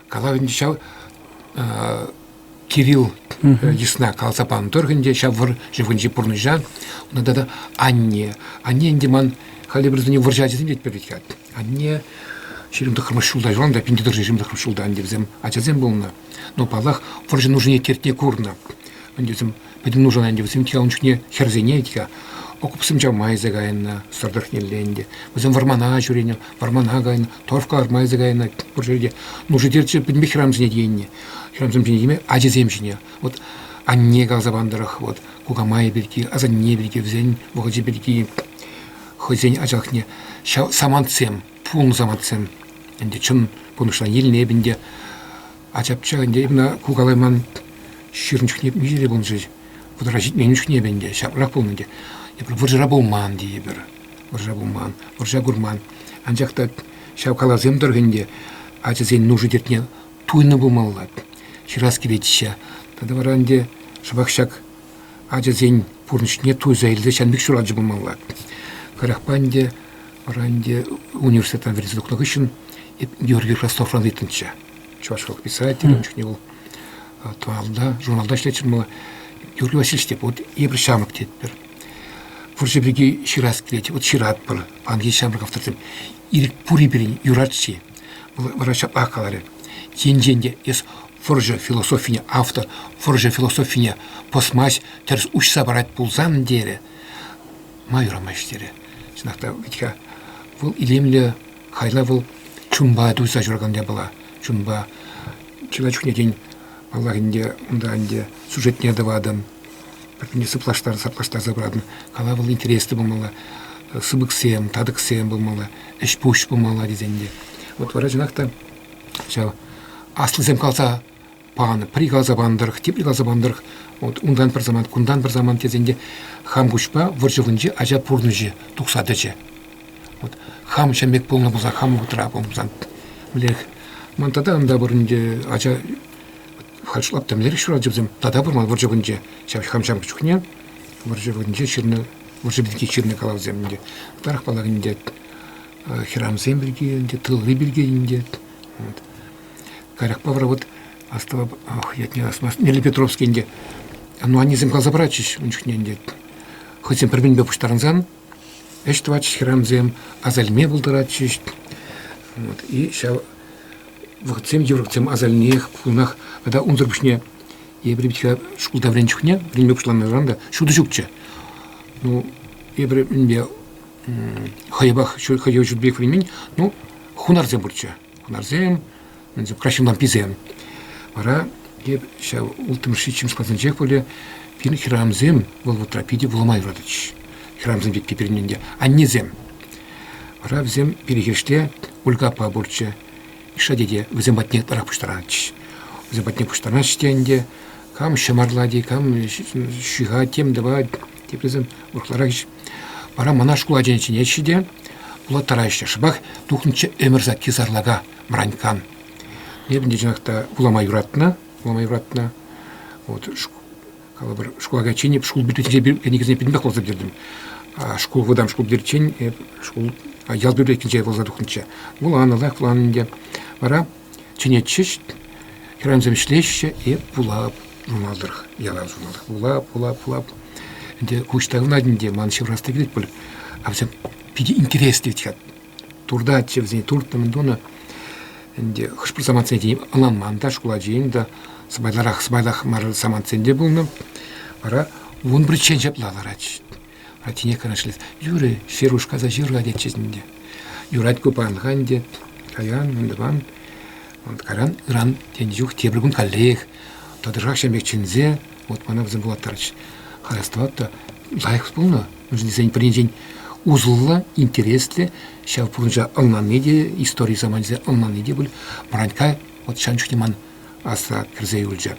Калав ӗнтӗ ҫав Кирилл йысна каласа панӑ тӑрӑх ӗнтӗ ҫав вӑр ҫывӑхӗнчи пурнӑҫа унта тата анне. Анне ӗнтӗ ман халӗ пӗр вӑрҫа ачасем тетпӗр пек анне ҫирӗм тӑххӑрмӗш ҫулта юлан та пин тӑтӑшӗ ҫирӗм тӑххӑрмӗш ҫулта ӗнтӗ вӗсем ачасем пулнӑ. Но паллах вӑрҫӑ нушине тертне курнӑ. Ӗнтӗ вӗсем Пӗтӗм нушана ӗнтӗ вӗсем те ун чухне хӗрсене те окопсем чавма илсе кайнӑ сӑр тӑрӑхнелле ӗнтӗ. Вӗсем вӑрмана ҫӳренӗ, вӑрмана кайнӑ, торфка лартма илсе кайнӑ. Пур ҫӗрте нуши-терчи пӗтӗмпех хӗрамсене тиеннӗ. Хӗрамсем ҫине тиме ачисем ҫине. Вот анне каласа пан тӑрӑх, вот кукамайӗ пирки, асанне пирки, вӗсен вӑхӑчӗ пирки хӑйсен ачалӑхне ҫав самантсем, пулнӑ самантсем ӗнтӗ чӑн пурнӑҫран илнӗ эп ӗнтӗ. Ачапча ӗнтӗ ӑна кукалайман ҫырӑн чухне виҫӗ те пулнӑ-ши, вӑтӑра ҫитмен чухне ӗнтӗ ӗнтӗ ҫаплах пулнӑ ӗнтӗ. Эпир вӑрҫӑра пулман тейӗпӗр, вӑрҫӑра пулман, вӑрҫа курман. Анчах та ҫав калавсем тӑрӑх ӗнтӗ ачасен нуши-тертне туйнӑ пулмалла, ҫырас килет-ҫке. Тата вара ӗнтӗ шӑпах ҫак ачасен пурнӑҫне туйса илсе ҫан пек ҫуралчӗ пулмалла. Кӑрахпа ӗнтӗ вара ӗнтӗ университетран вӗренсе тухнӑ хыҫҫӑн эп Георгий Ростовран ыйтнӑччӗ. чӑвашла писателӗн чухне вӑл тӑванла журналта ӗҫлетчӗ мала Юрий Васильевич тет вот эпир ҫамрӑк тетпӗр вӑрҫӑ пирки ҫырас килет вот ҫыратпӑр панӑ ҫеҫ ҫамрӑк авторсем ирӗк пурри пирӗн юрать-ши вара ҫаплах каларӗ енчен те эс вӑрҫӑ философине автор вӑрҫӑ философине пӑсмасть тӗрӗс уҫса парать пулсан терӗ ма юрамасть терӗ чӑнах та витька вӑл илемлӗ Каялла вӑл чунпа туйса ҫуракан япала. Чунпа чылай чухне, тен, паллах ӗнтӗ, унта ӗнтӗ сюжетне тӑватӑн, пӗртен сыплаштарса пыратӑн. Кала вӑл интереслӗ пулмалла, сыпӑксем, татӑксем пулмалла, ӗҫ-пуҫ пулмалла тесен те. Вот вара чӑнах та ҫав аслисем калса панӑ, пӗри каласа панӑ тӑрӑх, тепри каласа панӑ тӑрӑх, вот унтан пӗр самант, кунтан пӗр самант тесен те хам куҫпа вӑрҫӑвӑнче ача пурнӑҫӗ тухса тӑчӗ. Вот хам ҫын пек пулнӑ пулсан, хам вӑхӑтра пулсан, мӗнлерех. Ман тата ӑнта пыр ӗнтӗ ача харҫлап темлерех ҫуралчӗ вӗсем, тата пырман вӑрҫӑвӑнче. Ҫав хам ҫамрӑк чухне вӑрҫӑвӑнче ҫырнӑ, вӑрҫӑ пирки ҫырнӑ калавсем ӗнтӗ. Ытарах паллах ӗнтӗ хӗрамсем пирки, ӗнтӗ тылри пирки ӗнтӗ. Вот. Каярахпа вара вот астӑвап, ятне астмасть, Нелли Петровский ӗнтӗ, ну, аннесем каласа паратчӗҫ ун чухне ӗнтӗ, хӑйсем пӗр-пӗринпе пуҫтарӑнсан, ӗҫ тӑватчӗҫ хӗрарӑмсем, асальне пултаратчӗҫ. Вот, и ҫав вӑхӑтсем, йывӑрлӑхсем асальнех пулнах. Тата унсӑр пуҫне эпир пит шкулта вӗреннӗ чухне, вӗренме пуҫланӑран та ҫутӑ ҫукчӗ. Ну, эпир мӗнпе хӑйӑпах, хӑйӑв ҫутӑ пек вӗренмен, ну, хунарсем пурччӗ. хунарсем, краҫҫын ламписем. Вара ҫав улттӑмӗш ҫиччӗмӗш классенчех пулӗ пин хӗрамсем вӑл вӑтра питӗ вулама юратӗҫ. Хӗрамсем пекки пирӗн ӗнтӗ. Аннесем. Вара вӗсем перехирште Ольга аппа пурччӗ. Миша тете вӗсем патне ытларах пуҫтарнӑччӗ. Вӗсем патне пуҫтарнаҫҫӗ те ӗнтӗ. Кам ҫӑмарлать-и, кам ҫыхать, тем тӑвать. Теприсем ытларах вара мана шкул ачине чӗнеҫҫӗ те вулаттараҫҫӗ. Шӑпах тухнӑччӗ ӗмӗр сакки сарлака Мраньккан. Эп ӗнтӗ чӑнах та вулама юратнӑ, вулама юратнӑ. Вот калӑпӑр, шкула кайиччен эп шкул библиотекинче кӗнекесене пӗтӗмпех каласа бертӗм. Шкул вӑтам шкул пӗтериччен эп шкул ял библиотекинче вуласа тухнӑччӗ. Вуланӑ, лайӑх вуланӑ ӗнтӗ. Вара чӗнетчӗҫ. Хӗрарӑмсем ӗҫлеҫҫӗ, эп вулап ҫунатӑр, ялан ҫунатӑр. Вулап, вулап, вулап. Ӗнтӗ куҫ тайӑлнать ӗнтӗ, ман ҫывӑрас та килет пуль. А вӗсем питӗ интереслӗ тет. Туртатчӗ вӗсене, туртнӑ-мӗн тунӑ. Ӗнтӗ хӑш-пӗр самантсене тени ӑнланман та, шкул ачийӗн та сӑпайларах, сӑпайлах мар самантсем те пулнӑ. Вара вун пӗрччен ҫапла ларать. Атине канашлас. Юрӗ, Шеруш каса ҫырла тетчӗҫ ӗнтӗ. Юрать ку паянлӑха ӗнтӗ каян, ун тӑван, ун кайран ыран тенӗ чух тепӗр кун каллех тӑтӑшах ҫын пек чӗнсе, вот мана вӗсем пулаттарчӗҫ. Хастӑват та лайӑх пулнӑ. Уншӑн тесен пӗринчен усӑллӑ, интереслӗ, ҫав пурнӑҫа ӑнланни те, истори саманчӗсене ӑнланни те пуль. Бранька вот ҫан чухне ман асра кӗрсе юлчӗ.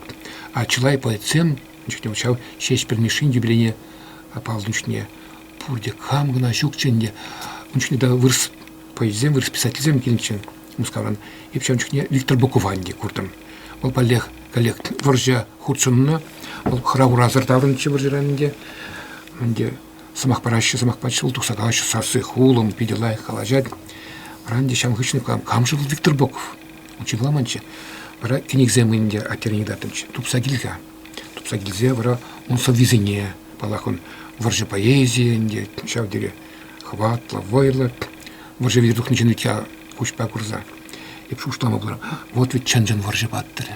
А чылай поэтсем Чухне ҫав Ҫеҫпӗл Мишшин юбилейне паллӑ чухне пурте кам кӑна ҫукчӗ ӗнтӗ. Ун чухне та вырӑс поэтсем, вырӑс писательсем килнӗччӗ Мускавран. Эп ҫав чухне Виктор Букованди куртӑм. Вӑл паллех коллег вӑрҫа хутшӑннӑ. Вӑл хӑра-хурасӑр таврӑнчӗ вӑрҫӑран ӗнтӗ. Ӗнтӗ сӑмах параҫҫӗ, сӑмах пачӗҫ, вӑл тухса калаҫҫӗ сарси хулӑм, питӗ лайӑх калаҫать. Вара ӗнтӗ ҫавӑн хыҫҫӑн кам, кам-ши вӑл Виктор Боков? учӑкламанччӗ. Вара кӗнексем ӗнтӗ аттерене тытӑнчӗ. Тупса кил-ха. Тупса килсе вара ун сӑввисене, паллах, ун вӑрҫӑ поэзийӗ ӗнтӗ, ҫав тери хӑватлӑ, вӑйлӑ. Вӑрҫӑ витӗр тухнӑ ҫын ӳт куҫпа курса эп шухӑшлама пулар. Вот ведь чӑн-чӑн вӑрҫӑ паттӑрӗ.